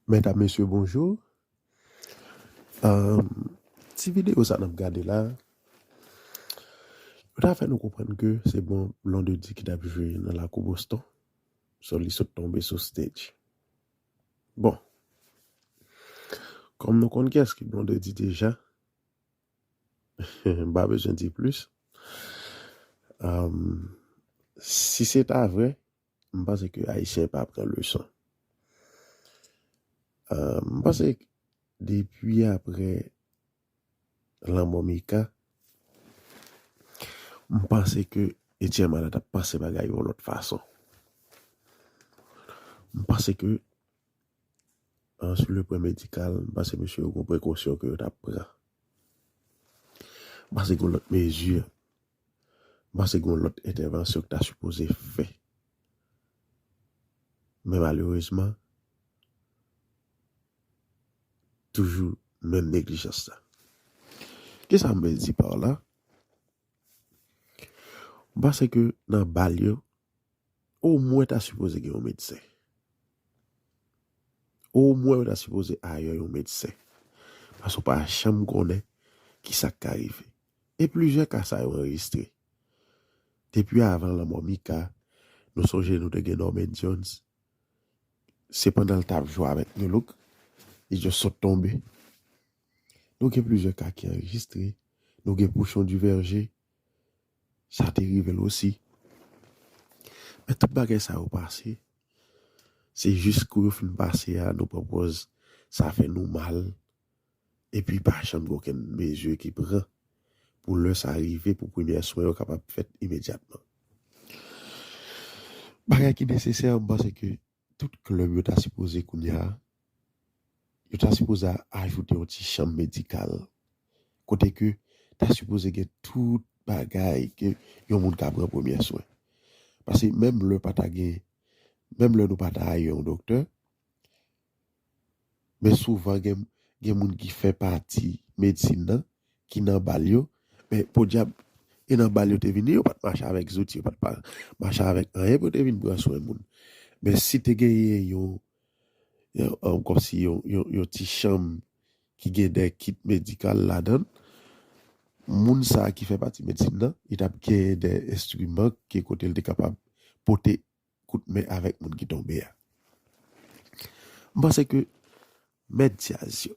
Medam mesye bonjou ti video sa nap gade la yo ta fè nou konprann ke se bon Blondedy ki tap jwe nan lakou Boston so li sot tonbe sou stage bon kòm nou konn kiyès ki Blondedy deja m pa bezwen di plis si se ta vre M panse ke Ayisyen pa pran leson. M panse depi apre lanmò Mika, m panse ke Etienne Malata panse bagay yon lòt fason. M panse ke sou le pwen medikal, m panse mesye yo gen prekosyon ke yo ta pran. M panse gen lòt mezi. M panse gen yon lòt entèvansyon ki ta sipoze fè. Men malerezman, toujou menm neglijans la. Ki sa m vle di par la? M panse ke nan bal yo, omwen ta sipoze gen yon medsen. Omwen yo ta sipoze ayè yon medsen. Paske ou pa janm konnen ki sa k ka rive. E plizyè ka sa yo anrejistre. Depi avan lanmò Mika, nou sonje nou te gen Norman Jones, se pandan l t ap jwe avèk Nu Look, li just sot tonbe. Nou gen plizyè ka ki anrejistre, nou gen Pouchon Duverger, sa te rive l osi. Men tout bagay sa yo pase, se jis kou yo fin pase a nou pran pòz sa fè nou mal epi pa janm gen okenn mezi ki pran pou lè sa rive pou premyè swen yo kapab fèt imedyatman. Bagay ki nesesè m panse ke tout klèb yo ta sipoze kounye a, yo ta sipoze ajoute yon ti chanm medikal kote ke ta sipoze gen tout bagay ke yon moun ka pran premyè swen. Pase menm lè pa ta gen, menm lè nou pa ta aye yon doktè, Men souvan gen gen moun ki fè pati medsin nan ki nan bal yo, men podyab e nan bal yo te vini yo pat mache avèk zouti, yo pat pa mache avèk anyen pou yo te vin pran swen moun. Men si te genyen yon yon kòmsi yon yon ti chanm ki gen dè kit medikal ladan l, moun sa ki fè pati medsin nan li tap genyen dè enstriman ki kote l te kapab pote kout men avèk moun ki tonbe a. M panse ke mèt djaz yo,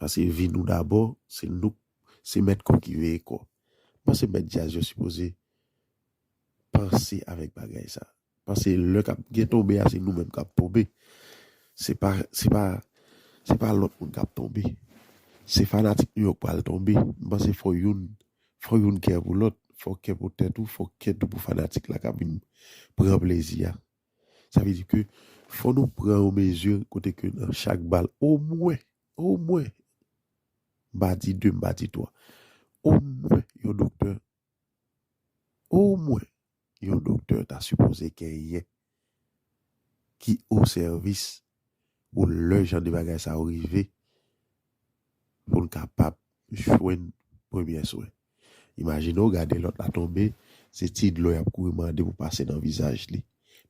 pase vi nou dabò, se nou, se mèt kò ki veye kò. M panse mèt djaz yo sipoze panse avèk bagay sa. Panse lè kap gen tonbe a se nou menm kap tonbe. Se pa, se pa, se pa lòt moun kap tonbe. Se fanatik nou yo k pral tonbe. M panse fò youn Fò youn kè pou lòt, fò kè pou tèt ou, fò kè tou pou fanatik la ka vin pran plezi a. Sa vle di ke fò nou pran yon mezi kote ke nan chak bal omwen, omwen, m pa di 2, m pa di 3, omwen yon doktè, omwen yon doktè ta sipoze genyen ki o sèvis pou lè jan de bagay sa yo rive pou l kapab jwenn premyè swen. Imajine w gade lòt la tonbe, se ti dlo y ap kouri mande pou pase nan vizaj li.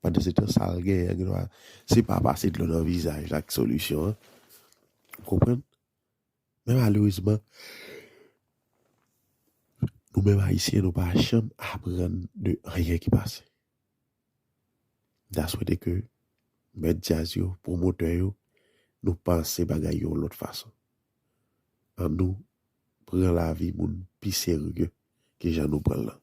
Pandansetan sa l genyen an gendwa se pa pase dlo nan vizaj la ki solisyon an. Ou konprann? Men malerezman, nou menm Ayisyen nou pa janm aprann de anyen ki pase. Da swete ke mèt djaz yo, pwomotè yo, nou panse bagay yon lòt fason. An nou pran lavi moun pi serye ke jan nou pran l lan.